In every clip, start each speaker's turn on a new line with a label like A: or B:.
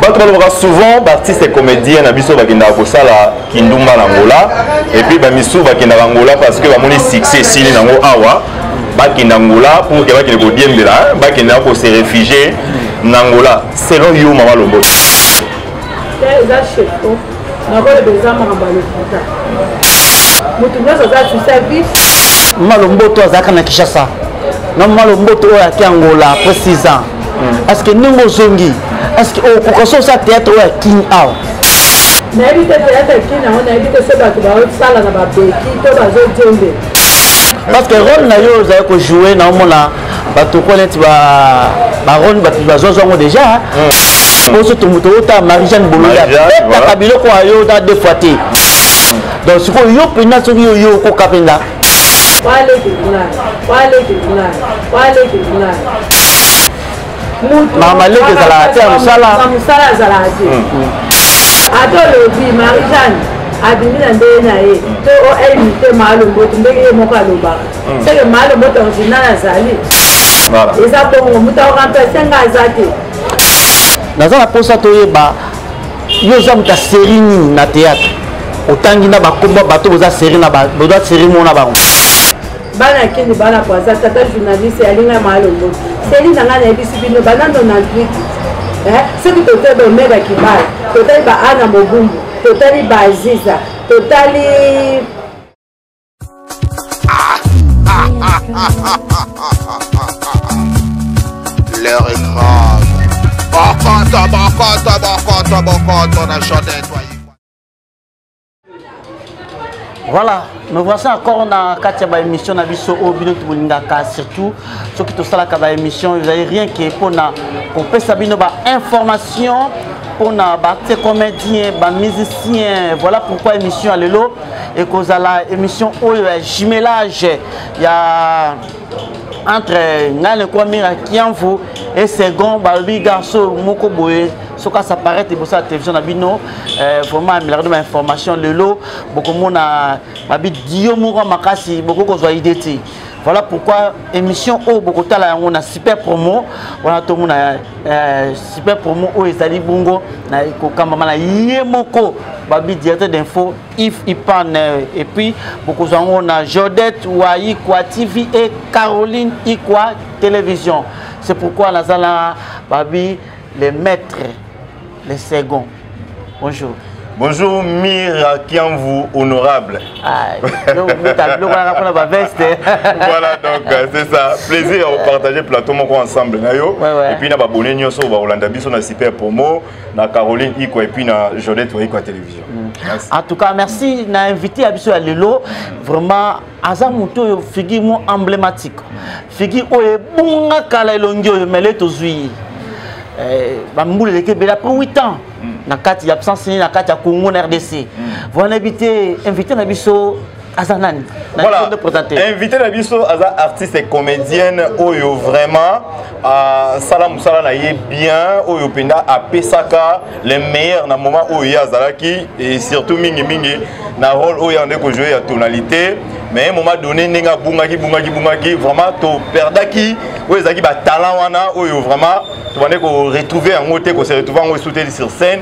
A: bato balobaka souvent baartiste comédien na biso bakendaka kosala kindumba na ngola epuis bamisusu bakendaka ngola parce que bamoni succès esili nango awa bakenda ngola pour ke bakende kodiembela bakenda ko se réfugier na ngola selon yo mama lombo
B: nakoyeba eza mamba lokuta moto nyonso aza susa vie malomboto azalaka
C: na kinshasa na malomboto oyo ake angola après 6 ans parceke hmm. ndenge ozongi parceke okoka so osa théâtre oyo ya king awa nayebi
B: te théâtre ya king yango nayebi te so bato bazosala na babeki to bazojembe
C: parce que role na yo ozali kojoue na omona batoko neti barone bato bazwazwa yango déjà hmm. oso tomoto ota marie jeanne bolonda betaka biloko ayo na deux fois te donc sikoyo yo mpenza soki yo yo okoka mpenza mama leki ezalaka te ya mosala
B: ata olobi marie jeanne abimi na ndenge na ye to oimite maalomboto ndenge ye moko alobaka seke maa lobota original azali eza bongo moto aoremplace nga aza te
C: naza na mposa toyeba yo oza moto ya série nini na théâtre otangi na bakomba bato boza série na boza série mona bango bana
B: akende bana poaza tata journaliste alinga maalongo seli na ngai nayebisi bino banando na twiti eh, soki totali baomega kibala totali baana mobumbu totali baziza totali
D: L'heure est grave. Bokoto, bokoto, bokoto, bokoto, na chantait toi.
C: Voilà, nous voici encore na kati ya ba émission na biso oyo bino tolingaka surtout soki tosalaka ba émission ezali rien ke mpona kopesa bino ba information mpona baacte comédien bamusicien voilà pourquoi émission ya lelo ekozala émission oyo ya jumelage ya entre ngai nekwa mira kiamvu e second balobi garso moko boye soki asaparaître liboso ya télévision na bino euh, vraiment amelaka ba information lelo bokomona babi dio moko makasi bokoki kozwa idée te Voilà pourquoi émission oyo bokotala yango na super promo wana tomona euh, super promo oyo ezali bongo na kokambama na ye moko babi directeur d'info if ipan euh, et puis bokozwa yango na jodette wa ikwa tv et caroline ikwa télévision c'est pourquoi nazala babi les maîtres le second bonjour Bonjour
A: Mira Kianvu, honorable. Ah, donc, voilà, donc euh, c'est ça. Plaisir à partager plateau moko ensemble. Ouais, ouais. Et puis, na abonné nyoso ba Olanda biso na super promo, na Caroline Iko et puis na Jolette Iko télévision. Mm. En tout cas,
C: merci. Na invité à biso à Lelo. Vraiment aza moto oyo figure mo emblématique figure oyo ebunga kala elongi oyo mele tozwi ye eh, bambula eleki ebele après 8 ans mm. na kati ya absence nini na kati ya congo na rdc mm. wana yebi te invité na biso aza nani voilà
A: invité na biso aza artiste comédienne oyo vraiment asala mosala na ye bien oyo mpenza apesaka le meilleur na moment oyo ye azalaki et surtout mingimingi na role oyo yande kojoue ya tonalité mais moment donné ndenge abungaki bungaki bungaki vraiment toperdaki oyo ezalaki batalent wana oyo vraiment tobandaki koretrouve yango te kose retrouve yango esuteli sur scène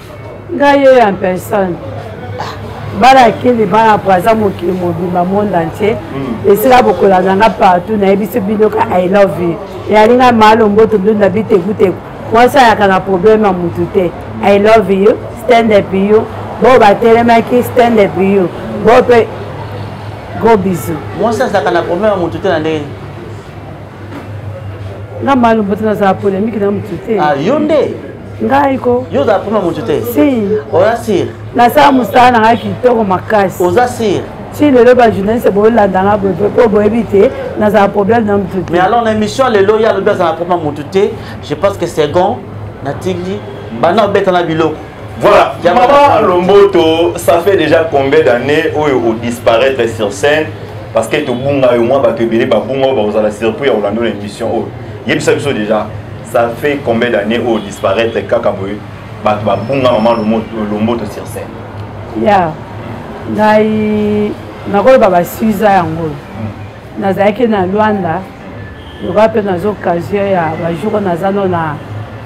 C: ngai
B: ye en personne bana akende bana po aza mokili mobimba monde entier hmm. esila bokolanda nga partout nayebisi bino ka i love you eyali ngai malo mboto ndunda bitekuteku mwasi ayaka na problème ya motu te i love you stand up you bo batelemaki stand up you bo mpe go bisu mwasi azalaka na problème
C: ya motu te na ndenge
B: nga malu mbote nazala polemike na motu te ah, yo nde
C: ngai ko
B: yo ozala pema motu
C: te si oza
B: sire
C: nasala mosala
B: na ngai kitoko makasi oza sire ti
C: lelo bajournaliste
B: boyolanda nga boye mpo boyebi te nazala problème na motu te mais alors na émission lelo
C: ye alobi azala pema motu te je pense que second natiki bana obetana biloko Voilà, Maman
A: Lomboto, ça fait déjà combien d'années où vous disparaître sur scène parce que tout bon et moi bato ebele ba bon ba ozala surpris ya Orlando l'émission oh. Yebisa biso déjà, ça fait combien d'années où disparaître kaka boye bato ba bon Maman Lomboto sur scène. Yeah.
B: Ngai nakoloba ba suza yango. Mm. nazalaki na luanda lokola mpe naza occasion ya bajour naza no na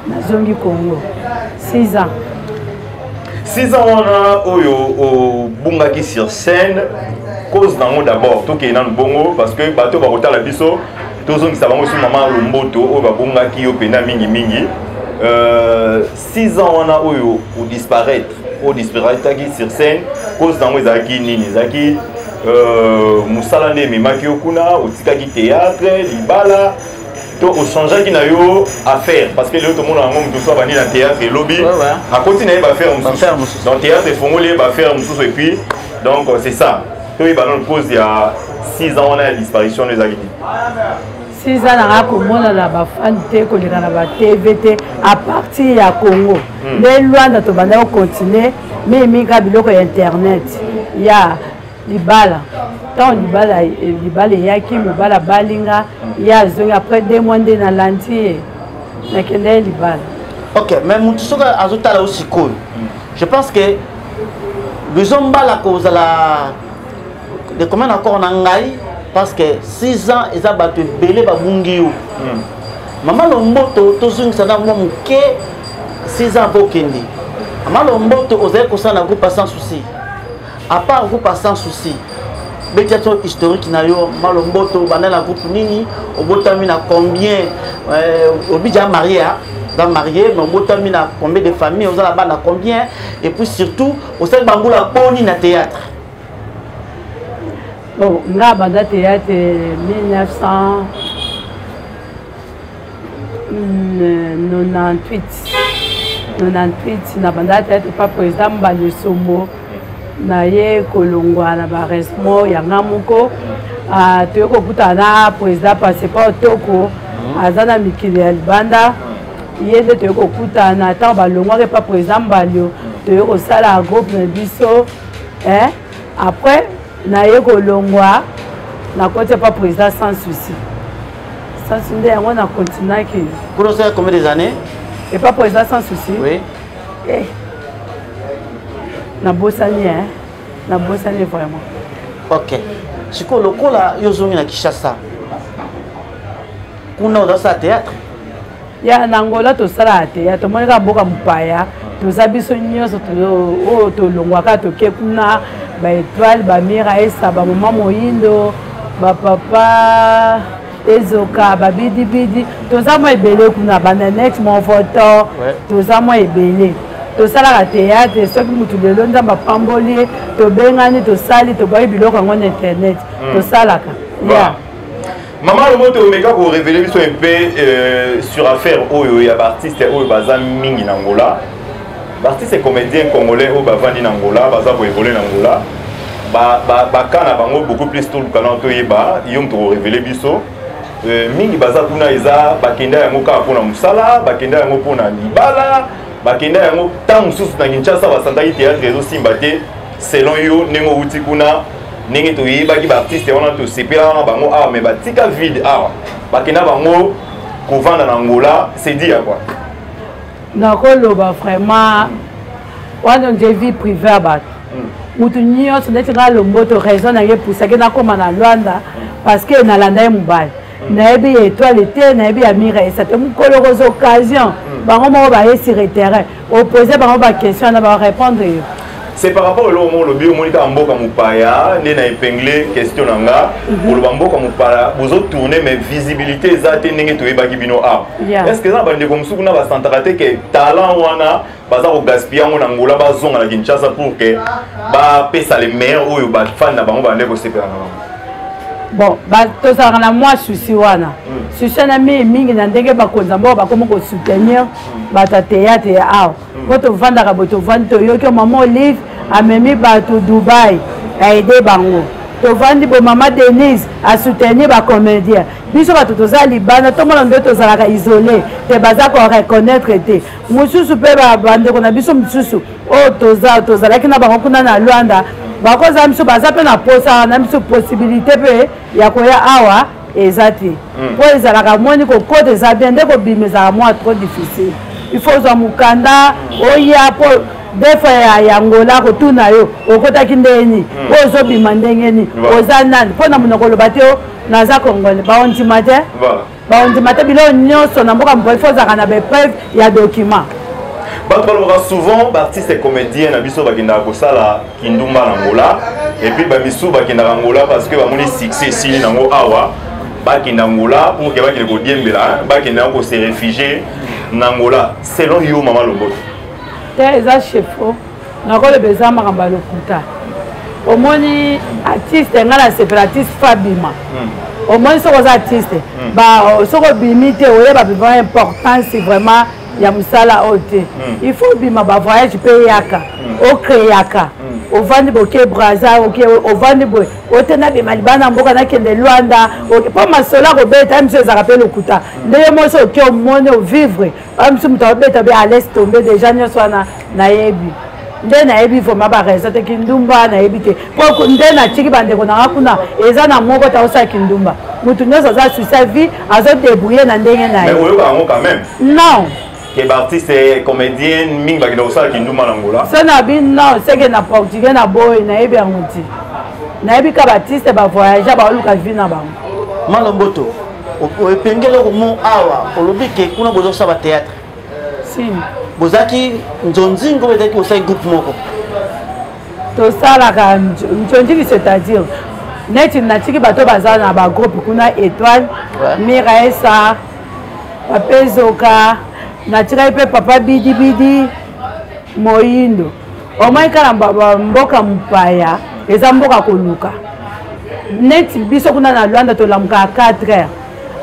B: nazongi congo 6 ans
A: 6 ans wana oyo obungaki sur scène cause nango d'abord tokei nanu bongo parce que bato bakotala biso tozongisa bango su mama lomboto oyo babungaki yo mpena mingimingi euh, 6 ans wana oyo odisparaître oyo disparaitaki sur scène cause nango ezalaki nini ezalaki euh, mosala nde ememaki yo kuna otikaki théâtre libala to ochangeaki na yo affaire parce que lelo tomona yango moto mosusu abandi na théâtre elobi akoti na ye baaffaire mosusu donc théâtre efongoli ye baaffaire mosusu et puis donc c'est ça toyeba nano cause ya 6 ans wana ya disparition wana ezalaki nini siza nanga komona
B: na bafani te koleka na batv te a partir ya congo hmm. nde lwanda tobanda kocontinue mimika biloko ya internet ya libala ntango libala eh, libala eyaki mobali abali nga ye azongi après deux mois nde nalandi ye nakenda ye libala ok mais motu
C: soki azotala yo sikoyo je pense que bizo mbala kozala de combien d'accord na ngai parce que 6 ans eza bato ebele babungi yo hmm. mama lomboto tozongisa na mwa moke 6 ans bokende mama lomboto ozali kosala na groupe sans souci à part groupe sans souci betiation historique na yo malomboto banda na groupe nini obotami na combien euh, obija marie hein? oza marie mais obotami na combien de famille oza na bana combien et puis surtout osali bambula boni na théâtre
B: bon nga banda théâtre 1998 98 na banda théâtre pa président mbali sombo naye kolongwa na baresmo yanga moko ah, toye kokutana na président passeport toko aza na mikili ya libanda ye nde toye kokutana ntango balongwaka epa président mbalio toye kosala groupe na biso eh, après naye kolongwa nakoti apa président sans souci sans souci nde yango na continuaki grosser combien des
C: années epa président
B: sans souci oui. eh. nabosani eh. nabosani vraiment ok
C: sikoyo lokola yo ozongi na kinshasa kuna ozasala théâtre ya
B: na angola tosalaka te ya tomoni kaka mboka mopaya toza biso nyonso oyo tolongwaka toke kuna baetoile bamira esa bamama moyindo bapapa ezoka babidibidi toza mwa ebele kuna bananet monvoto toza mwa ebele tosalaka théâtre soki motu lelo nzambe apamboli ye tobengani tosali tobwaki biloko yango na internet hmm. tosalaka ya
A: Maman Lomoto omeka ko révéler biso un peu euh, sur affaire oyo ya ba artistes oyo baza mingi na Angola. Ba artistes comédiens congolais oyo bavandi na Angola, baza ko évoluer na Angola. Ba ba ba kana bango beaucoup plus tout le canon to yeba, yo mto ko révéler biso. Euh, mingi baza kuna eza bakenda yango kaka mpo na mosala bakenda yango mpo na libala bakenda yango ntango mosusu na kinshasa basantaki théâtre ezosimba te selon yo ndenge owuti kuna ndenge toyebaki baartiste wana tosepelaka na bango awa mais batika vide awa bakenda bango kovanda na ngola sedi ya kwa
B: nakoloba vraiment wana nde vie privé ya bato motu hmm. nyonso neti ngai lomboto raison na ye epusaki nakóma na lwanda hmm. parce que nalanda ye mobali nayebi ya etoile te nayebi ya miresa te mokolo okoza occasion hmm. bango moko baye sur terrain opose bango baquestion na barépondre yo c'est par rapport
A: eloko moko olobi omoni kaka mboka mopaya nde na epingle question na nga mhm. oloba mboka mopaya bozotourne mais visibilité eza te ndenge toyebaki bino awa est ce que eza na bandeko mosuku na basantaka te ke talent wana baza kogaspille yango na ngola bazonga na kinshasa pour que bapesa le meilleur oyo bafani na bango bande kosepela na bango bon
B: tozalaka na mwa susi wana hmm. susi wana mii mingi na ndenge bakonzi ambao bakomi kosoutenir hmm. bato ya teyatre ya awa hmm. mpo tovandaka bo tovandi toyoki o mama olive amemi bato dubai aide bango tovandi bo mama denise asoutenir bacomédien biso bato toza libanda tomona nde tozalaka isole te baza koreconnaitre te mosusu mpe bandeko na biso mosusu oyo toza tozalaki na bango kuna na lwanda bakozala biso baza mpe na mposa wana biso posibilité mpe ya koya awa eza te hmm. mpo ezalaka moni kokota eza bien nde kobima ezalaka mwa trop difficile il faut ozwa mokanda oya mpo defa ya yangola kotuna yo okotaki ndenge nini mpo hmm. ozobima ndenge nini oza nani mpo na monoko oloba te naza kongole baondima te bakondima
A: te biloko
B: nyonso na mboka mpo ifo ozalaka na baepreuve ya document bato
A: balobaka souvent baartiste comédien na biso bakendaka kosala kindumba na ngola epuis bamisu bakendaka ngola parce que bamoni succès esili nango awa bakenda ngola mpo ke bakende kodiembela bakenda yango kose refugie na ngola selon yo mama lomboto te eza
B: chefo nakoloba eza makambo ya lokuta omoni artiste ngai nasepela artiste fa bima hmm. omoni soki oza artiste hmm. soki obimi te oyeba bima importance vraiment ya mosala oyo te hmm. il faut obima bavoyage mpe eyaka okreaka ovandi boke braza oke ovandi boye ote nabima libana na mboka nakende lwanda mpo masolo akobeta miso ezalaka mpe lokuta ndenge mosi oke omoni ovivre oyo mosusu moto abeta be alaise tombe deja nyonso wana nayebi nde nayebi vraimen baraison te kindumba nayebi te po nde natiki bandeko na nga kuna eza na moko ta osala kindumba moto nyonso aza susa vie azodebrouille na ndenge na ye non ke
A: baartiste eh, comédienne mingi bakenda kosala kindumba na ngola so na bi non
B: seke na portugais na boye nayebi yango te nayebi ka baartiste bavoyage baoluka vie na bango malomboto
C: opengeli komo awa olobi ke kuna boza kosala bateatre
B: bozalaki
C: nzonzingo oyo ezalaki kosali groupe moko tosalaka
B: nzonzingi c'est-à-dire neti natiki bato baza na bagroupe kuna étoile miraesa papezoka natikaki mpe papa bidibidi moyindo omoi kala mboka mopaya eza mboka koluka neti biso kuna na lwanda tolamukaka 4 heures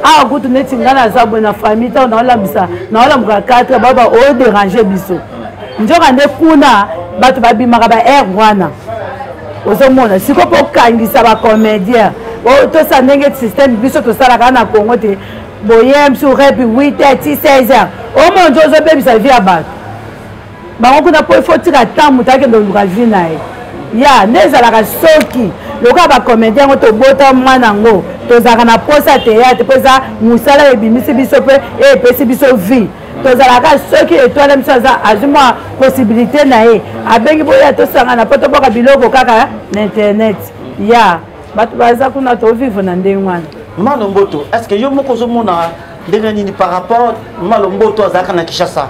B: awa kutu neti ngai naza boye na famille ntango naolambisa naolamukaka 4 heures bao baoderange oh, biso nzoka nde kuna bato babimaka ba aire wana ozomona sikoyo mpo okangisa bacomédien oh, tosa ndenge système biso tosalaka na congo te boye msu repi 8 heures ti 16 heures omona nzo ozobebisa vie ya bato bango kuna mpo ifo tika ata moto akende koluka vi na ye ya nde ezalaka soki lokola bakomedi yango tobota mwana yango tozalaka na mposa ya teyate mpo eza mosala ebimisi biso mpe epesi biso vie tozalaka soki etwale biso aza azwi mwa possibilité na ye abengi boya tosangana mpo toboka biloko kaka na internet ya bato baza kuna tovivre na ndenge wana mano mboto
C: est ce que yo moko ozomona ndenge nini par rapport mama lomboto azalaka na kinshasa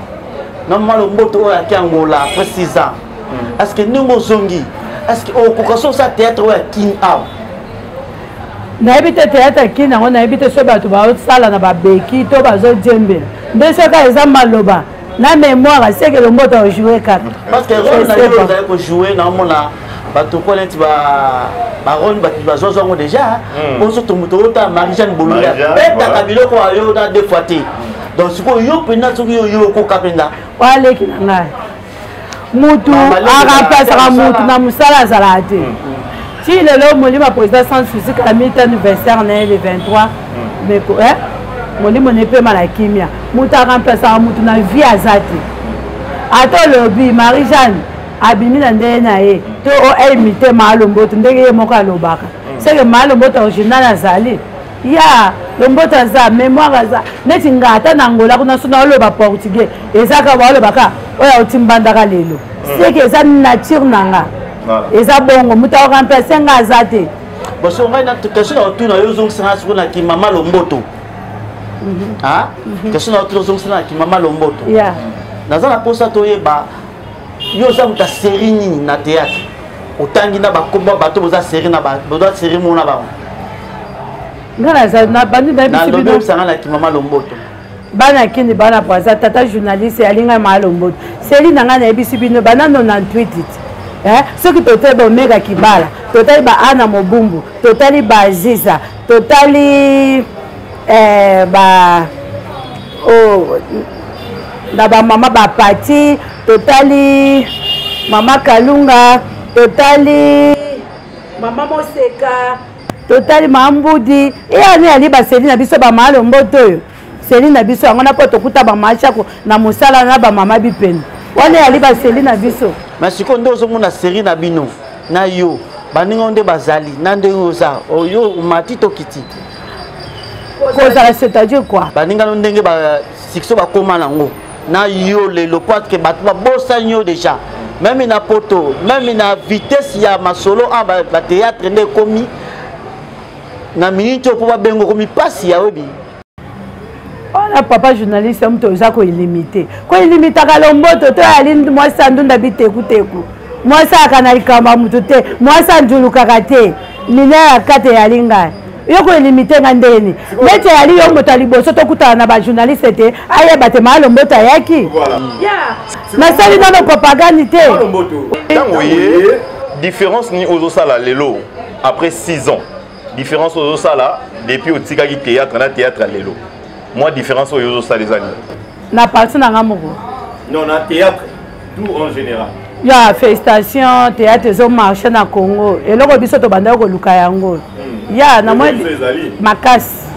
C: na mama lomboto oyo ayaki angola après 6 ans hmm. est ce que ndenge ozongi est ce que okoka so osa théâtre oyo ya kin awa
B: nayebi te théâtre ya kin yango nayebi te so bato bazosala na babeki to bazodiembela nde soki eza maloba na mémoire seke lombota ojoue kaka parce que role na yo
C: ozali kojoue naomona bato ko neti barone bato bazwa zwango déjà hmm. ozo tomoto ota marie jeanne bolula betaka biloko ayo na deux fois te donc sikoyo yo mpenza soki yo yo okoka mpenza waleki na ngai
B: mutu arapasaka mutu na mosala azalaka te mm, mm. ti lelo molimo ya président sans souci kala miti anniversaire na ye le 23 meko eh? molimo na epema na kimia moto aremplasaka moto na vie aza te ata olobi marie jeanne abimi na ndenge na ye to oimite maalomboto ndenge ye moko alobaka seke maalomboto original azali ya lomboto aza memoire aza neti nga ata na angola kuna so naoloba portugais eza kaka baoloba kaka oyo auti mbandaka lelo hmm. seke eza nature na nga eza bongo moto aoremplace nga aza te baso ngai
C: question na otuna yo ozongisa nga soko na kimama lomboto mhm. ah? mhm. question na otuna ozongisa na kimama lomboto naza na mposa toyeba yo oza moto ya série nini na théâtre otangi na bakomba bato boza série na boza série mona bango
B: nalobi oyebisanga na kimama
C: lomboto bana ya kini
B: bana po aza tata journaliste yalingai maa lomboto seli na ngai nayebisi bino bana 98 eh, soki totali baomega kibala totali baana mobumbu totali baaziza totali eh, ba oh, na bamama bapati totali mama kalunga totali mama moseka totali mama mbudi eyani yali baseli na biso bamama lomboto oyo seli na biso yango na mpo tokuta bamama chako na mosala na bamama bipene wana yali baseli na biso ma sikoyo nde ozomona
C: seri na bino na yo baninga nde bazali na ndenge oza oyo omati tokiti
B: kozala c'est-à-dire quoi baninga no ndenge ba
C: sikso bakoma nango na yo lelo po atke bato babosani yo déjà meme na poto meme na vitesse ya masolo a bateatre nde ekomi na minute oyo mpo babenga okomi mpasi ya oyebi
B: wana papa journaliste ya moto oza koilimite koilimitaka lomboto to yali mwasi andunda bitekuteku mwasi ayaka na likambo ya moto te mwasi anjulukaka te mina ya kate yali ngai yo koilimite nga ndeni neti yali yo moto ya liboso tokutana na bajournaliste te ayeba te maa lomboto ayaki nasali nano propagande te
A: différence nini ozosala lelo après 6 ans différence oyo ozosala depuis otikaki théâtre na théâtre ya lelo mwa différence oyo ozosala eza nini na parti na
B: nga moko non na
A: théâtre tout en général ya félicitation
B: théâtre ezomarche na congo eloko biso tobandaki koluka yango hmm. ya na mwa makasi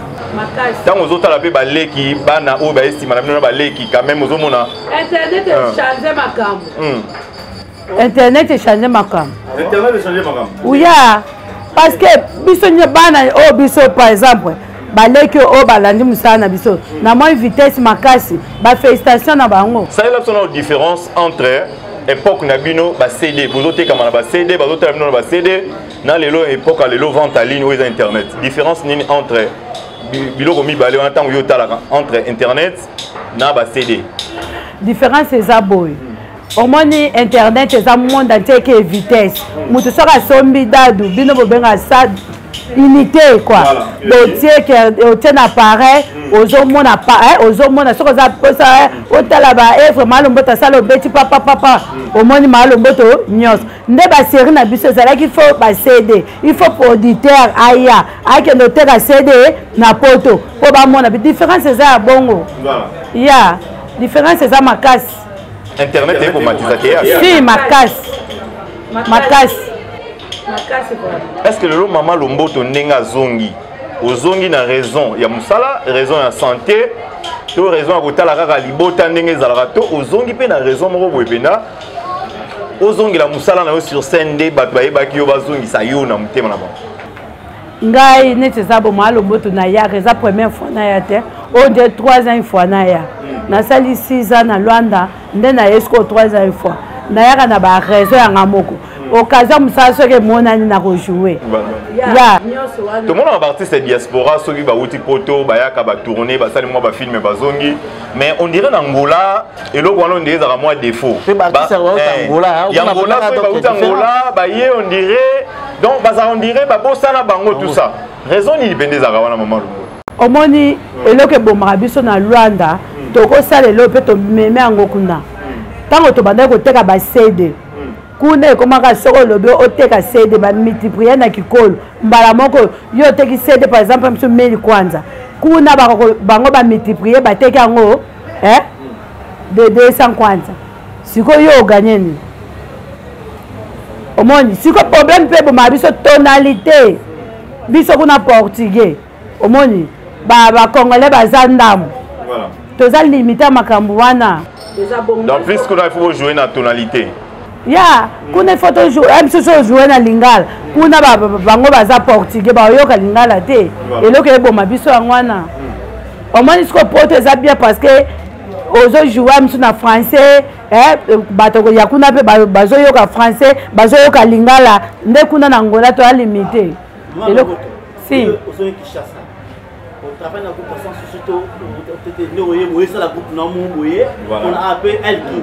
B: ntango ozotala mpe
A: baleki bana oyo baye nsima na bino na baleki quand même ozomona internet echange
B: ah. makambo hmm. internet echange makambo internet echange
A: makambo uya
B: parce que biso nye bana oyo oh, biso par exemple baleki oyo oh, balandi mosala na biso na moi vitesse makasi bafélicitation na bango salela biso na différence
A: entre époque na bino ba cd bozotekama na ba cd bazotala bino na ba cd na lelo époque ya lelo vente à ligne oyo eza internet différence nini entre biloko mibale wana ntango yo otalaka entre internet na ba cd différence
B: eza boye omoni internet eza monde entier ke vitesse moto soki asombi dadu bino bobengaka sa unité quoi botie otie na pareil mm. ozomona eh, ozomona soki oza mposa eh, otala baevre maalomboto asala obeti papapapa mm. omoni maalomboto nyonso nde baserie na biso ezalaki fo bacd il faut producteur aya akende oteka cd na poto mpo bamona différence eza ya bongo ya
A: yeah.
B: différence eza makasi internet
A: ekomatisa te si makasi
B: makasi
A: est ce que lelo mama lomboto ndenge azongi ozongi na raison ya mosala raison ya santé to raison ya kotala kaka libota ndenge ezalaka to ozongi mpe na raison moko boye mpenza ozongela mosala na yo sur scène nde bato bayebaki yo bazongisa yo na motema na bango ngai
B: neti eza boma alomboto nayaka eza première fois naya te oyo nde troisième fois naya nasali six ans na lwanda nde naye sikoyo troisième fois nayaka na baraison yanga moko occasion mosala soki emonani na kojoue tomonaka
A: baartiste ya diaspora soki bauti poto bayaka batourne basali mwa bafilme bazongi mais on dirait na ngola eloko wana ondire ezalaka mwa defaut eh, yangola soki bauti angola baye ondire donc bazala ondire babosana bango tout ça raison nini mpenza ezalaka wana mama longo omoni
B: eloko ebomaka biso na luanda hmm. tokosala eloko mpe tomeme yango kuna ntango hmm. tobandaki koteka basede hmm. kuna ekomaka soki olobi oteka sede bamultiplie na kikolo mbala moko yo oteki sede par exemple biso meli kwanza kuna bango bamultiplie bateki yango eh? de 200 kwanza sikoyo yo oganye nini omoni sikoyo problème mpe ebomaka biso tonalité biso kuna portugais omoni bacongolais ba baza ndambo voilà. toza limite ya makambo wana donc plus
A: kuna ifo bojoue na tonalité ya
B: kuna ifo tomosusu eh, ojoue na lingala kuna bango baza portugais baoyoka lingala te eloko eboma biso yango wana omoni sikoyo poto eza bien parce que ozojoua misu na français eh, bato ya kuna mpe bazoyoka français bazoyoka lingala nde kuna na ngola toya limite eloko si travaille na groupe
C: ya sans souci to tete nde oye boye esala groupe na mo boye mpona ape elki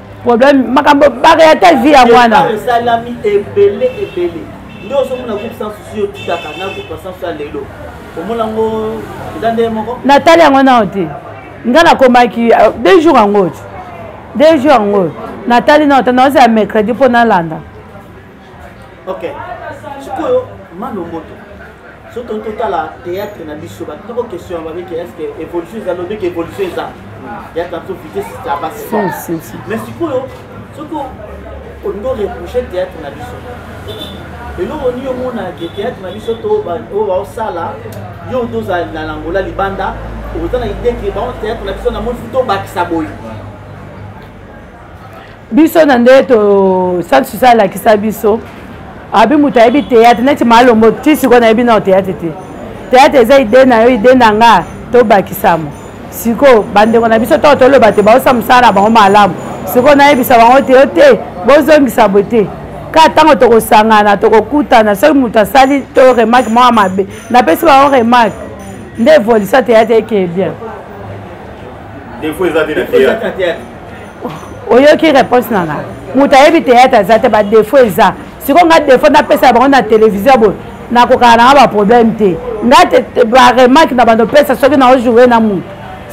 B: problème makambo bakaya te vie ya mwana esalami ebele ebele nde
C: ozomona groupe sans souci yo tikaka na groupe sans souci ya lelo omona yango eza ndenge moko natali yango nao te
B: ngai nakomaki euh, deux jours yango te deux jours yango natali nao te naoza ya mercredi mpo nalanda
C: ok sikoyo mano moto so toni totala théâtre na biso batoko question ya babeke est ce que évolution eza lobeke évolution eza ya tanso vitesse ya basi mais sikoyo soki olingi oreproche théâtre na biso eloko nini omona ke théâtre na biso to oyo baosala yo tozala na langola libanda oza na idée ke bango théâtre na biso na moni futa obakisa boye
B: biso na nde to sainte susa alakisa biso abi moto ayebi théâtre neti malombo ti sikoyo nayebi nao théâtre te théâtre eza ide na yo ide na nga tobakisama sikoyo bandeko na biso ntango toloba te baosa mosala na bango malamu sikoyo nayebisa bango te yo te bozongisa boye te kaka ntango tokosangana tokokutana soki moto asali to remarke mwa mabe napesi bango remarke nde evolisa teyate ekeye bien defo eza te na théâtre oyoki réponse na nga moto ayebi théâtre aza te badefo eza sikoyo nga defo napesa bango na télévision boye nakokaka nanga baproblème te nga te baremarke na bando pesa soki na ojoue na moto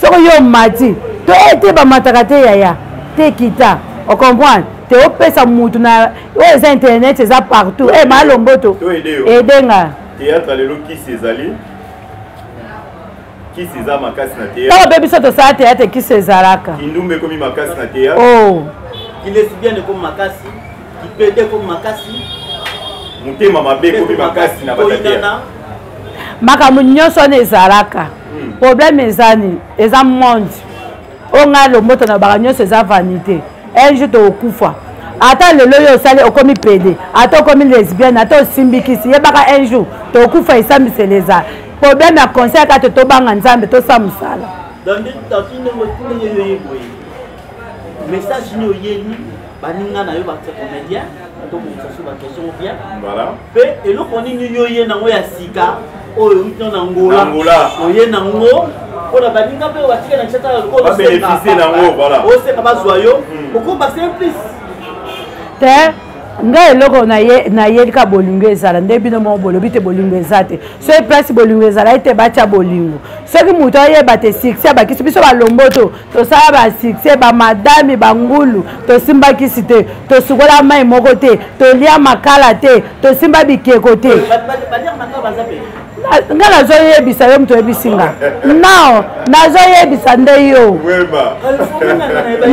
B: soki yo omati to ete bamataka te yaya te kita ocomprendre te opesa motu na oyo eza internet eza partout e eh, malomboto ede nga théâtre lelo
A: kisi ezali kisi eza makasi na théâtre ntango mpe biso tosala théâtre
B: kisi ezalaka kindumba ekomi makasi
A: na théâtre oh. kilesibiane
C: ekomi makasi kipede ekomi makasi motema
A: mabe ekomi makasi na batatea makambo
B: nyonso wana ezalaka hmm. problème eza nini eza monde oyo ngai lomboto na baka nyonso eza vanité un jour tokokufa ata lelo oyo osali okomi pede ata okomi lesbienne ata osimbikisi yebaka un jour tokokufa esambisela eza problème ya conseil kaka te tobanga nzambe tosala mosala
C: message nini oyeli baninga na yo bacomédien to mosusu baquestion bien mpe eloko nini yo oye nango ya sika oyo euti na ngola oye nango mpo na baninga mpe batika na kisasa
A: lokola osenga bazwa yo
C: hmm. okoba simplice te
B: ngai eloko nayeli kaka bolingo ezala nde bino moko bolobi te bolingo eza te soki place bolingo ezalaki te batya bolingo soki moto ayeba te succès abakisi biso balomboto tosala basuccès bamadami bangulu tosimba kisi te tosukola mai moko te tolia makala te tosimba bikeko te nga nazoyebisa yo moto oyebisi nga nao nazoyebisa nde yo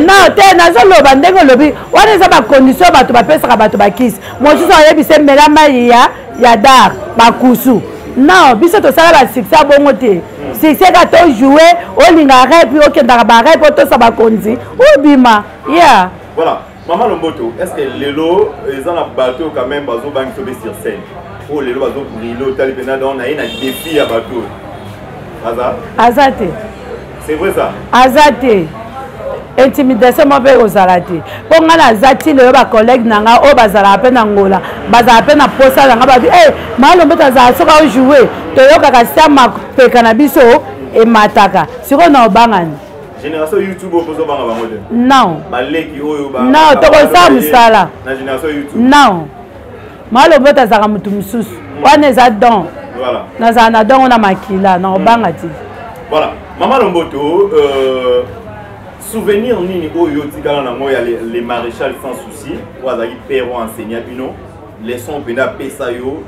B: nao te nazoloba ndenge olobi wana eza bakondisio bato bapesaka bato bakisi mosusu ayebisa emela mai ya ya dar bakusu nao biso tosala basuccès bongo te succès ka tojoue olinga repi okendaka barepi otosa bakonzi obima ya yeah. voilà. Maman
A: Lomboto, est-ce que lelo eza na bateau quand même bazo bangi sobe sur scène? Oh lelo bazo brilo tali pena dans na ye na défi ya bateau.
B: Aza? Aza te. C'est
A: vrai ça? Aza te.
B: intimidation moko mpe ekozala te mpo ngai naza ti lelo bacollègue na ngai oyo bazalaka mpe na ngola bazalaka mpe na mposa na ngai babi e malombe tazala soki aojoue toyokaka sia mapeka na biso emataka sikoyo na obangani génération youtube
A: oyo bozo banga bango te non baleki
B: oyo
A: ba non tokosala
B: mosala na génération youtube
A: non
B: maloba oyo azalaka moto mosusu hmm. wana eza don nazala na
A: dongo na
B: makila na kobanga hmm. ti voilà mama
A: lomboto euh, souvenir nini oyo otikala nango ya le maréchal sans souci oyo azalaki père oyo enseigne bino leçon mpenza apesa yo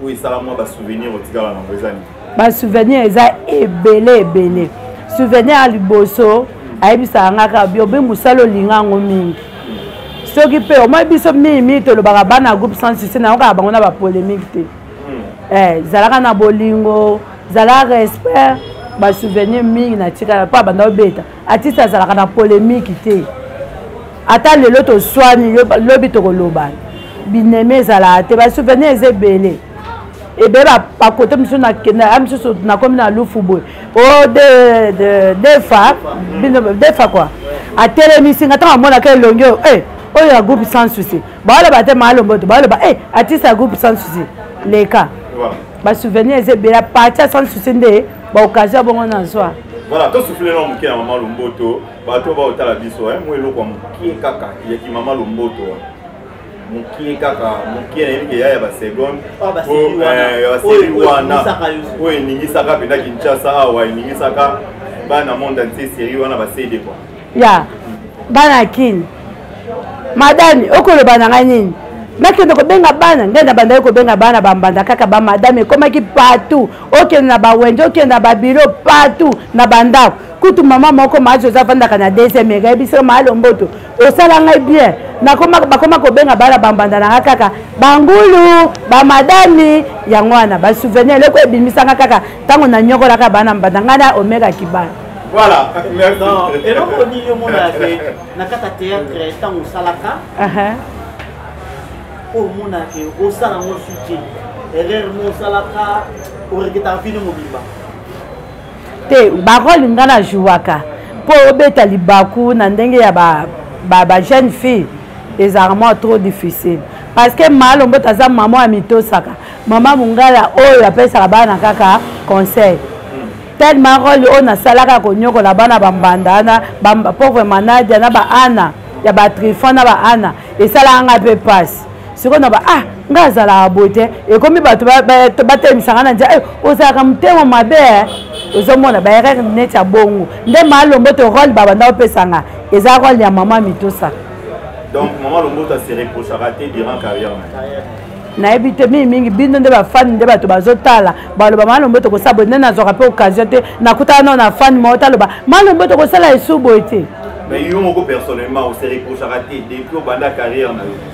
A: oyo esala mwa basouvenir otikala nango eza nini basouvenir eza
B: ebele ebele souvenir ya liboso ayebisaka nga kaka biobe mosala olinga yango mingi soki mpe omoi biso mingi mingi tolobaka bana ya groupe sans succès nayokaka bango na bapolémique te hmm. eh, zalaka na bolingo zala respect basouvenir mingi natikala mpo abanda obeta atiste azalaka na polémique te ata lelo toswani lobi tokolobana binemi ezalaka te basouvenir eza ebele ebe bakote mosusu nakende ya mosusu nakomi na lufu boye o oh, defa defa kua atelemisi nga ntango amonaka elongi oyo eh, oyo ya groupe sans souci baoloba te maalomboto baoloba e eh, artiste ya groupe sans souci leka basouvenir eza ebele parti ya sans souci nde baoccasion bongo na zwa voilà tosuflelelo
A: moke ya mama lomboto bato baotala biso mo eloko ya moke kaka yaki mama lomboto mokie kaka mokie nayebi ke ya ya baseconde ah, eh, ya
C: baseri wana oyo eningisaka
A: mpenza kinshasa awa eningisaka bana monde antie seri wana basede kwa ya
B: bana kini madame okoloba na ngai nini nakende kobenga bana nde na bandaki kobenga bana bambanda kaka bamadame ekomaki partout okende na bawenje okende na babilo partout na bandako kutu mama moko maazi oza afandaka na deuxième ega yebisaka maalomboto osala ngai bien nakoma bakoma kobenga bana bambanda na nga kaka bangulu bamadami yango wana basouvenir eloko ebimisanga kaka ntango nanyokolaka bana mbanda ngai na omega kibana voilà
A: eloko nini
C: omonaka ke na kati ya théâtre ntango osalaka oyo omonaka ke osala yango suki erreur mo osalaka oreketaka vino mobimba
B: te barole nga na jouaka mpo obeta libaku na ndenge ya ba, ba, ba jeune fille ezalaka mwa trop difficile parce que malo mboto aza mama ya mitosaka mama mongala oyo apesaka bana kaka conseil tellement role oyo nasalaka konyokola bana bambanda wana pauvre manadia na baana ya batrifon na baana esalaka ngai mpe mpasi sikoyo na ba ah nga azalaka boye te ekomi bato batelemisaka na nzela eh, ozalaka motema mabe eh. ozomona baerreur neti ya bongo nde malombo to role babanda opesanga eza role ya mama mitosa donc
A: mama lombo ta se reprochaka te durant carrière nayebi
B: te mingi mingi bino nde bafani nde bato bazotala baloba malombo tokosala boye nde nazwaka mpe occasion te nakutana nao na fani moko taloba malombo tokosala esu boye te mais yo moko
A: personnellement osereprochaka te depuis obanda carrière na yo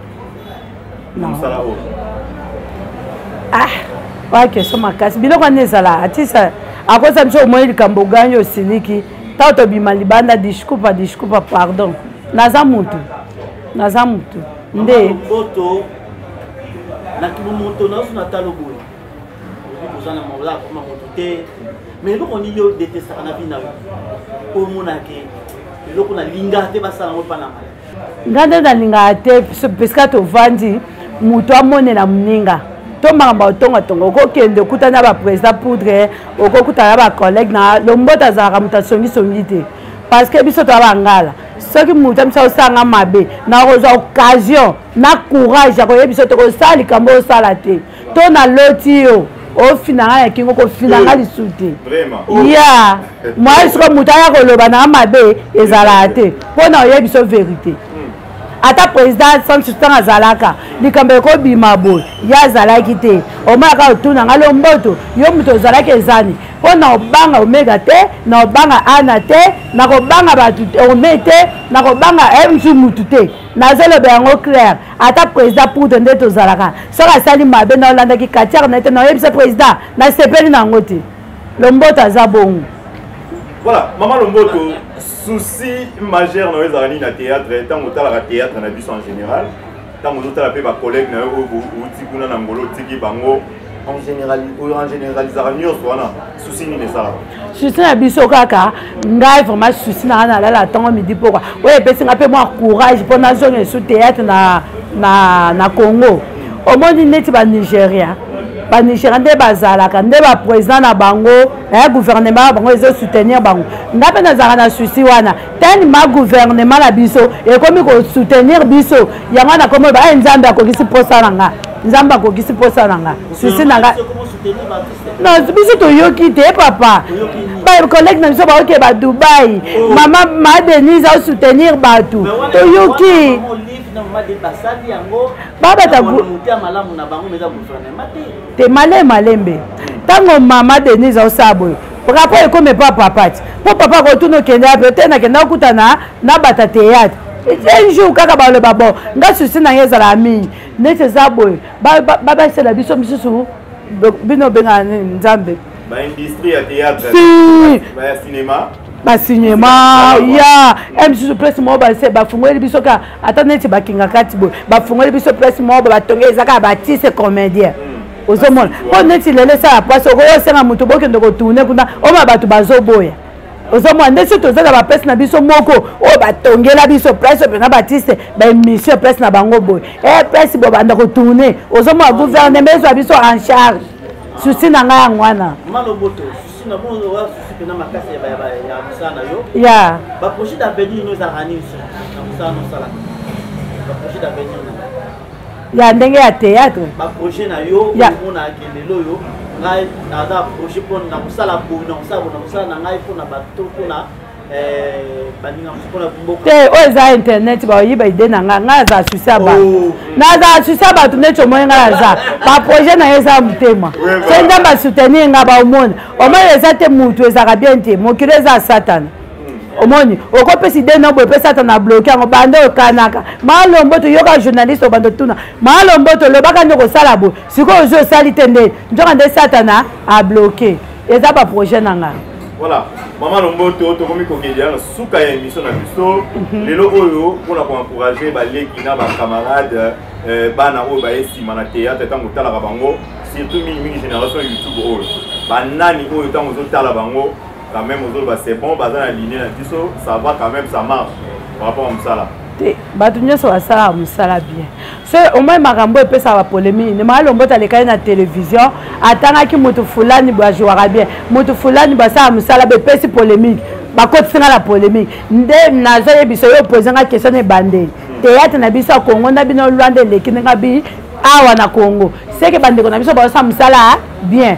A: ah
B: oya question makasi biloko wana ezala atisa akosa biso omoni likambo ogani osiliki ntango tobima libanda discupa discupa pardon naza mutu naza mutu nde
C: na kimomoto nazo na talo boye oza na maola akoma moto te mais eloko nini yo detestaka na bino na yo omona ke eloko nalingaka te basala yango mpa na ngai nga nde
B: nalingaka te pesika tovandi moto amonela moninga to makambo ya kotongatonga okokende okuta na baprésident poudre okokuta na bacollègue na lomboto azalaka moto asongisongi te parce que biso toya bangala soki moto amisa osanga mabe nakozwa occasion na courage ya koyebisa te kosala likambo osala te to na loti yo ofina nga ya kingo kofina nga lisusu te ya mwai soko moto aya koloba na mabe ezalaka te mpo na oyebi biso verité ata président sansu ntango azalaka likambo ekobima boye ye azalaki te omonaka otuna ngai lomboto yo moto ozalaki ezani mpo na obanga omega te na obanga ana te nakobanga bato ome te nakobanga msu eh, motu te nazoloba yango claire ata président poudre nde tozalaka soki asali mabe na olandaki katiare na ye te na oyebisa président nasepeli na yango te lomboto aza bongo voilà
A: mama lomboto souci majeur na yo ezalaka nini na théâtre ntango otalaka théâtre na biso en général ntango ozotala mpe bacollègue na yo oyo outi kuna na ngolo otiki bango susi na biso
B: kaka ngai vraiment susi na nga nalala ntango midi mpoka oyo epesi ngai mpe mwa courage mpo nazonga esu théâtre na, na, na congo omoni neti banigérien banigéria nde bazalaka nde baprésident na bango eh, gouvernement ya bango ezosoutenir bango ngai mpe nazalaka na susi wana tani ma gouvernement na biso ekomi ko soutenir biso yango na komo ba nzambe akokisi posa na nga nzambe akokisi posa na nga susi na nga non biso toyoki te papa bacollègue na biso baoke ba dubai oh. mama ma denise asoutenir bato toyoki babata te male malembe ntango mama denise aosala boye Rapport ekomi epa papa ti mpo papa akotuna okende yape te nakenda okutana na bata teyatre un jour kaka baloba bon nga susi na ye ezalaka mingi neti eza boye babasela biso misusu bino obengaka nini nzambe baindustrie
A: ya théâtre ya cinéma basinema
B: ya e misusu place moko base bafungoli biso ka ata neti bakinga kati boye bafungoli biso place moko batongeli eza kaka batise comédien mm. ozomona mpo neti lelo esala mpasi okoki osenga moto bokende kotourne kuna oma bato bazoboya ozomona nde soki toza na baplace na biso moko oyo batongela biso place oyo mpenza batiste baémission place na bango boye e place bobanda kotourne ozomona gouvernement ezwa biso en charge susi na ngai yango wana ya baprojet d'avenir ino ezalaka nini
C: na mosala nosalaka baprojet d'avenir
B: ya ndenge ya théâtre ba projet na yo
C: omona ke lelo yo ngai naza projet mpo na kosala boye na kosala boye na kosala na ngai mpo na bato mpo na eh, te oyo oh, eza internet
B: baoyiba ide na ngai ngai aza asuse ya bato oh. naza asuse ya bato neti omoni ngai naza baprojet na ye eza ya motema so nzambe asoutenir ngai baomona omoni eza te motu ezalaka bien te mokili eza ya satana omoni okopesa ide na boye pesa ata na bloke yango banda okanaka malombo toyoka journaliste obanda otuna malombo tolobaka nde kosala boye sikoyo ozwi osali te nde nzoka nde satana abloke eza baprojet na ngai voilà mama
A: lomboto tokomi kokendela na suka ya émission na biso mhm. lelo oyo mpona koencourage baleki na bacamarade eh, bana oyo baye nsima na théâtre ntango otalaka bango surtout mingimingi génération youtube oyo banani oyo ntango ozotala bango quand même ozoloba c'est bon baza na ligne na biso ça va quand même ça marche par rapport à mosala te bato nyonso
B: basalaka mosala bien so omoi makambo oyo epesaka bapolemiki nde maa lombota alekaki na televizio atangaki moto fulani bo ajouaka bien moto fulani bo asalaka mosala bo epesi polemiki bakotisi nga na polemiki nde nazoyebisa yo opoze nga question na ebandeli teyatre na biso ya kongo na bino lwanda eleki ndenge bi awa na kongo seke bandeko na biso baosala mosala bien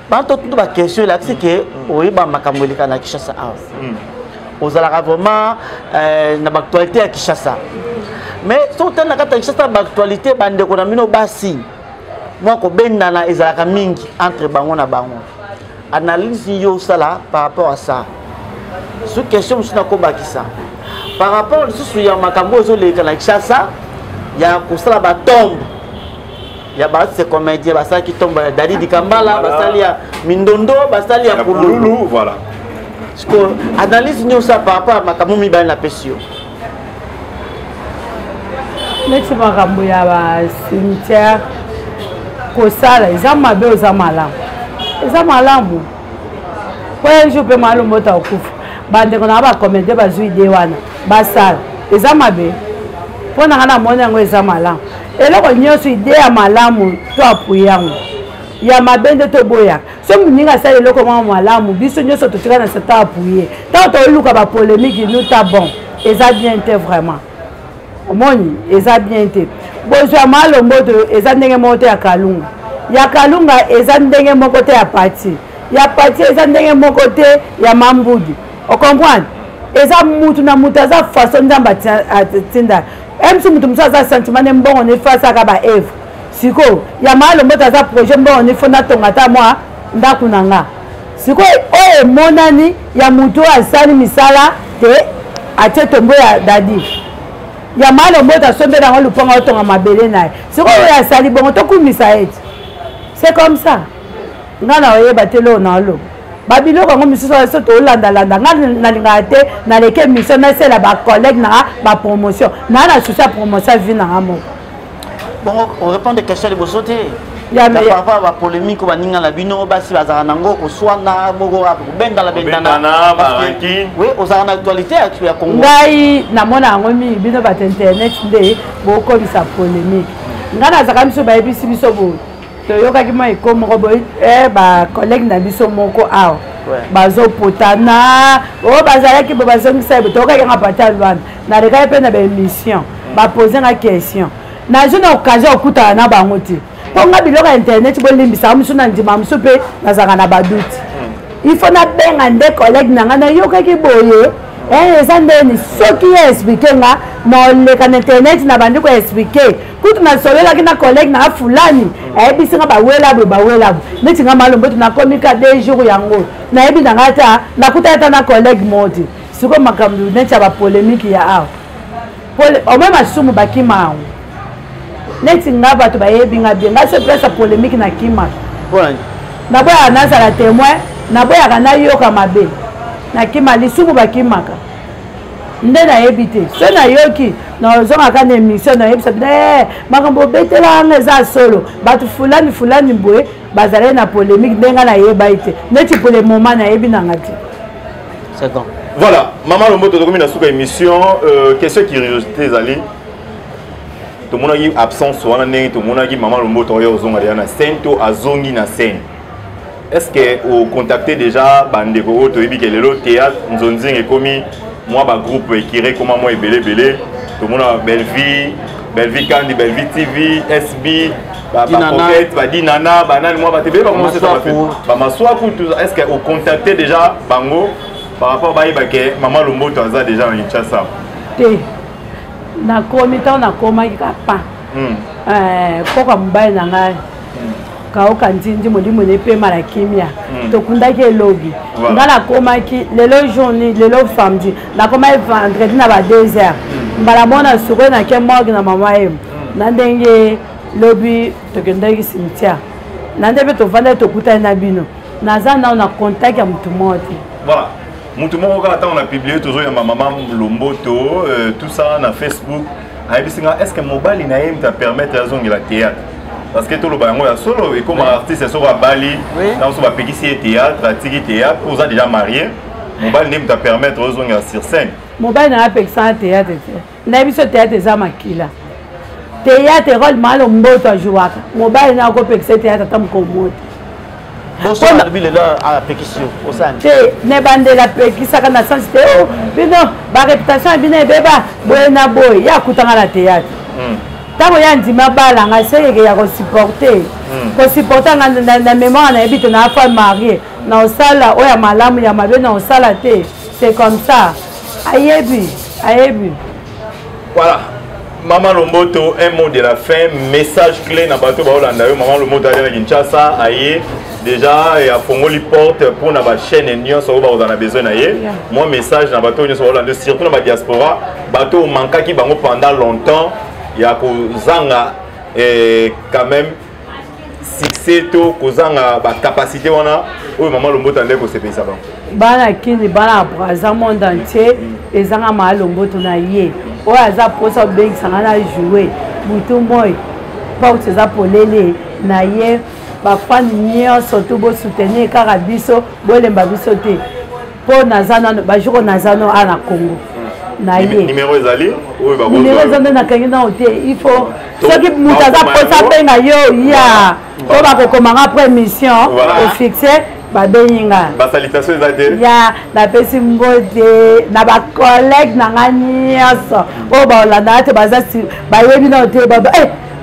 C: bato tutu baquestion elakisi ke mm. oyeba makambo eleka na kinshasa awa mm. ozalaka vraiment euh, na baactualité ya kinshasa mais soki otali na kati ya kinshasa baactualité bandeko na bino basi mwa kobendana ezalaka mingi entre bango na bango analyse yo osala par rapport à ça soki question mosusu nakobakisa par rapport lisusu ya makambo oyo ezoleka na kinshasa ya kosala batombe ya ba se comédien basalaki ntombo ya dadi dikambala basali ya mindondo basali ya pululu voilà
A: sikoyo
C: analyse nini osala par rapport ya makambo mibale napesi yo
B: neti makambo ya bacimetière kosala eza mabe oza malamu eza malamu po un jour mpe mwa lombota okufa bandeko na nga bakomedie bazwi ide wana basala eza mabe mpo na nga namoni yango eza malamu eloko nyonso ide ya malamu to apuye yango ya mabe nde toboyaka so moninga asala eloko mwa malamu biso nyonso totika na satan apuye ntango toluka bapolemiki nuta bon eza bien te vraiment omoni eza bien te bozwi ya malomboto eza ndenge moko te ya kalunga ya kalunga eza ndenge moko te ya pati ya pati eza ndenge moko te ya mambudu ocomprendre eza mutu na mutu aza façon nzambe atinda même si mutu mosusu aza sentiment ne mbongo ne fasaka ba evre sikoyo ya malomboto aza projet mbongo ne fo natonga ata mwa ndako na nga sikoyo oyo emonani ya motu oyo asali misala te atie tombo ya dadi ya malo mboto asombe nango lupango atonga mabele na ye sikoyo oyo asali bongo tokumisa ye ti c'est comme ça ngai na oyeba te loo na oloba babiloko yango misusu biso tolandalanda ngai nalingaka te naleki émission nasela bacollègue nanga bapromotion naa na susi ya promotion ya vie nanga moko bongo
C: orépondre question liboso te papa bapolémique baninga na bino basi bazalaka nango koswana moko kobendana bendana oui ozalaka na actualité ya congo ngai namona
B: yango mingi bino bato internet nde bokolisa polémique ngai nazalaka biso bayebisi biso boye toyokaki mwa eko moko boye eh, bacollègue na biso moko awa bazopotana o oh, bazalaki bo bazongisa ye toyokaki yanga pata lwana nalekaki mpe na baémission mm. bapose nga question nazwi na occasion ya kokutana na bango te mpo nga biloko ya internet bolimbisaka mosusu na ndima mosusu mpe nazalaka na baduti mm. il faut nabenga nde collègue na ngai nayokaki boye eh, eza ndeni soki ye explike nga noleka na internet nabandi koexplike kutu nasololaki na collègue na fulani ayebisi nga bawelabu bawelabu neti nga malomboto nakomi ka de jour yango nayebi na nga ata nakutaki ata na collègue moti sikoyo makambo neti ya bapolemiki ya awa omoi masumu bakima yango neti nga bato bayebi nga bien nga se place ya polemiki na kima naboyaka nazala témoin naboyaka nayoka mabe nakima lisumu bakimaka nde nayebi te so nayoki nazongaka na émission nayebisa bino ee eh, makambo obetelanga eza solo bato fulani fulani boye bazalaki na polémique nde ngai nayebai te neti pole moma nayebi nanga te
C: voilà mama lomboto
A: tokomi na suka émission euh, question curiosité ezali tomonaki absence wana ndenge tomonaki mama lomboto oyo ozonga deya na scène to azongi na scène est ce que ocontacte déjà bandeko oyo toyebi ke lelo théâtre nzonzinga ekomi mwa bagroupe ekire ekoma mwa ebele ebele tomona bellevie bellevie kandi bellevie tv sb bacoquete badinana banani mwa bato ebele bamaswaku est ce que ocontacte déjà bango par rapport bayeba ke mama lomboto aza déjà na kinshasa te
B: nakomi ntango nakomaki kapa mpoka hmm. eh, mobali na ngai kaoka nzinzi molimo na epema na kimia hmm. tokundaki elobi nga nakomaki lelo journi lelo samedi nakomaki vendredi na ba deux heures hmm. mbala mona sukoi nake morgue na mama ye hmm. na ndenge lobi tokendaki cimetière na nde mpe tovandaki tokutani na bino naza nao na contact ya motu moko te voilà
A: motu moko kaka ntango na publie tozoyamba mama lomboto euh, tout ça na facebook ayebisi nga est ce que mobali na ye mta permettre azongela théâtre parce que toloba yango ya solo ekoma artiste soko abali na mosusu bapekisi ye théâtre atiki théâtre po oza déjà marie mobali nde mta permettre ozongela sur scène mobali na apekisanga
B: théâtre te nayebi so théâtre eza makila théâtre role malo mboto ajouaka mobali na akopekisa théâtre ata mokolo moko te
C: te na ebandela
B: apekisaka na sense te oh, bino bareputation ya bino ebeba boye na boye ye akutanga na théâtre hmm. ntango ye andima bala ngai seyeke ya kosupporte hmm. kosupporte nga na mémoire nayebi te naa fois marie na osala oyo ya malamu ya mabe na osala te c'est comme ça ayebi ayebi voilà mama lomboto
A: un mot de la fin message clé na bato baolanda yo mama lomboto aya na kinshasa aye déjà afongoli porte mpo na bachaîne nyonso oyo bakozala na besoin na ye mwa message na bato oyo nyonso baolanda yo surtout na badiaspora bato oyo mankaki bango pendant longtemps ya kozanga eh, quand même succès to kozanga bacapacité wana oyo mama lombota nde kosepelisa bango bana kini
B: bana ya braza monde entier ezanga maa lomboto na ye oyo aza mposa obengisanga na joue butu moi porte eza polele na ye bafani nyonso to bosoutenir kaka biso bolemba biso te po naza nano bajour oyo naza no a na congo na ye nimero ezali
A: nimero eza nde nakangi
B: nao te il faut soki moto aza mposa abenga yo ya po bakokomanga après émission ofixe babengi nga basalitation eza
A: te ya napesi
B: mbote na bacollègue na nga nyonso oyo baolandaka te baza bayebi nao te baba eh,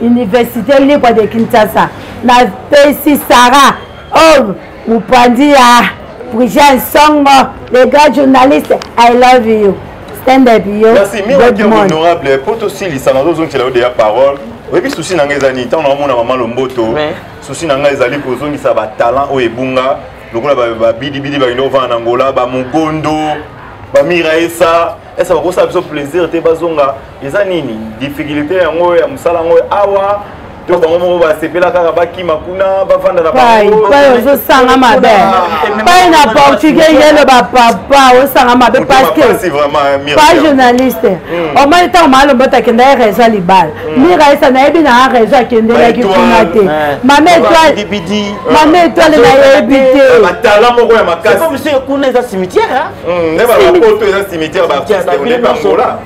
B: université libre de kinshasa napesi sara o oh, mopanzi ya prigel nsongo le grand journaliste i love you stand up yo merci miwaki
A: honorable mpo tosilisa nazozongisela yo deya parole oyebi susi na ngai eza nini ntango naomona mama lomboto susi na ngai ezali kozongisa batalent oyo ebunga lokola babidibidi bakende kovanda na ngola bamogondo bamiraesa esa bakosala biso plaisir te bazonga eza nini difficulté yango ya mosala yango awa to bango moko basepela kaka bakima kuna bafanda na pai ozosanga
B: mabe pai na portugais yelo bapapa osanga mabe parceque pa
A: journaliste
B: omoni ntango maalomba oto akenda ye réseau ya libala mira esa nayebi na ya réseau akendelaki kuna te mame etoile mame etoile nayebi te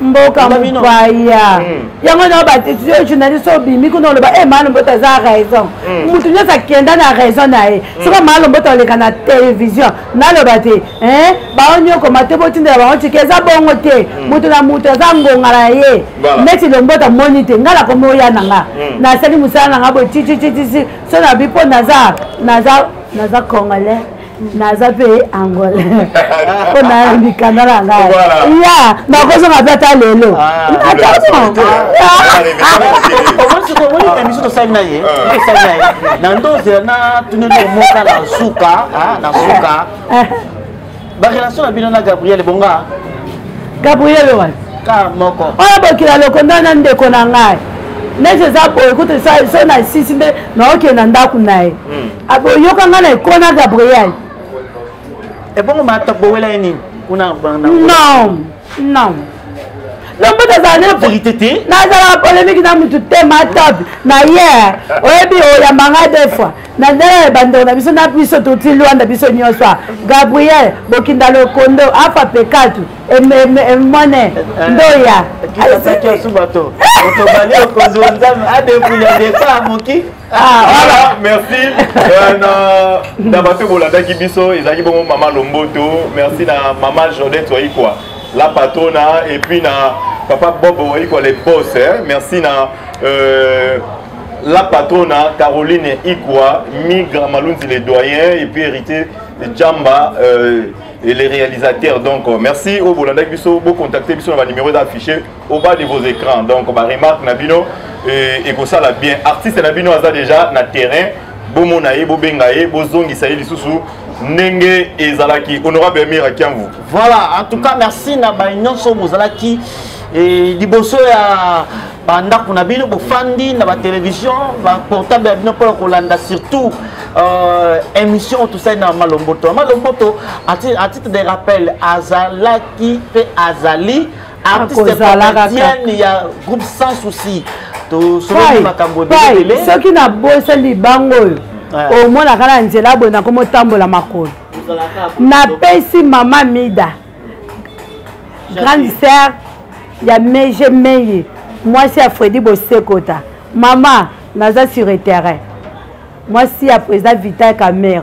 A: mboka mopaya
B: hmm. yango na batisio journaliste obimi kuna oloba e eh, malomboto aza raison hmm. motu nyonso akenda na raison na ye hmm. soki malomboto oleka na télévision naloba te eh, baonyokoma te botindela bango ciki eza bongo te moto na moto aza ngonga na ye neti lomboto amoni te ngai nakomi oya na nga nasali mosala na nga boye titititisi so na bipo naza naza naza congolais naza mpe angola mpo na mikanda na ngai ya nakozonga mpe ata lelo biso tosali na
C: ye tosali na ye na ndozela na tuneli omoka na suka na suka barelation na bino na gabriel bonga gabriel
B: wana kar moko
C: oyo bokila lokonda
B: na ndeko na ngai neti eza boye kutu so na sisi nde naokende na ndako na ye hmm. aboyoka nga na ekona gabriel
C: ebongo matok bowela ye nini kuna non
B: non lombo tozala na verité te nazalaka
C: polémique
B: na mutu te matop na ye oyebi oyamba nga de fois na ndenge ya bandeko na biso na biso toti lwanda biso nyonso a gabriel bokinda lokondo afa pekatu emone ndoya
C: Ah, voilà,
A: merci. Euh, na, na bato bolandaki biso ezalaki bongo mama Lomboto, merci na mama Jodette Waikwa, la patrona et puis na papa Bob Waikwa les boss, hein. merci na euh, la patrona Caroline Ikwa, Migra Malunzi les doyens et puis héritier Jamba euh, et les réalisateurs. Donc euh, merci au Bolanda Bisso, vous contactez Bisso, on va numéro d'affiché. au bas de vos écrans donc ba remarque na bino euh, ekosala bien artiste na bino aza déjà na terrain bomona ye bobenga ye bozongisa ye lisusu ndenge ezalaki honorable amir akiamvu voilà en tout cas
C: merci na baye nyonso bozalaki eh, liboso ya bandako na bino bofandi na batelevizio baportable ya bino mpona kolanda surtout euh, émission tosali na malomboto malomboto à titre de rappel azalaki mpe azali artiste comédienne ya groupe sans souci tosololi makambo ebele soki nabosani
B: bango oyo omonaka na nzela boye nakomotambola makolo napesi mama mida grande sœur ya meje meye mwasi ya fredi bosekota mama naza sur terrain mwasi ya président vital camere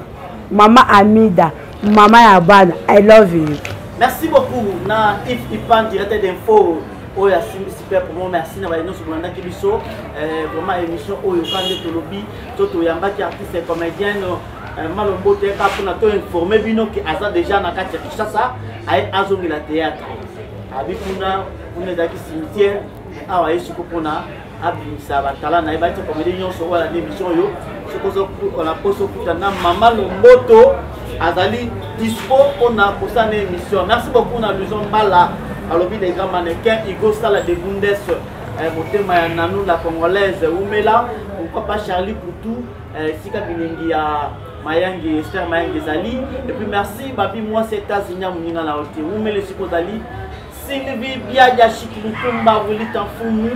B: Mama Amida, mama ya bana, I love you. Merci beaucoup
C: na Yves Ipan, directeur d'info oyo asimbisi mpe promo merci na baye nyonso bolandaki biso eh, vraiment émission oyo ka nde tolobi to toyambaki artiste comédienne eh, malombo te ka mpona to informe bino ke aza déjà na kati ya kinshasa aye azongela théâtre abi kuna kuna ezalaki cimetière awa ye siko mpona abimisa batala na ye bati komedi nyonso oyo alandi émission oyo soki ozokola mposo okuta na mama lomboto azali dispo mpona kosala na émission merci beaucoup na luison mbala alobi les grands mannequin igo sala de bundes eh, motema ya nanu la congolaise wumela pourquoi pas charlie poutou eh, esika bilingi ya mayangi ester mayangi ezali epuis merci babi mwasi états-unis ya moninga na yo te wumela esika ozali Sylvie Biadia Chikilukumba Willy Tanfumu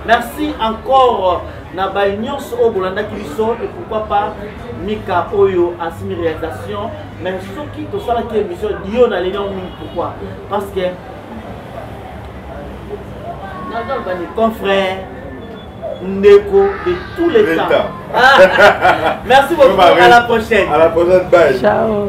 C: merci encore na baye nyonso oyo bolandaki biso et pourquoi pas mika oyo asimi réalisation mais soki tosalaki émission dio na leli yango mingi pourquoi parce que nazalobani confrère ndeko de tous les temps ah, merci beaucoup à la prochaine à la prochaine bye
A: ciao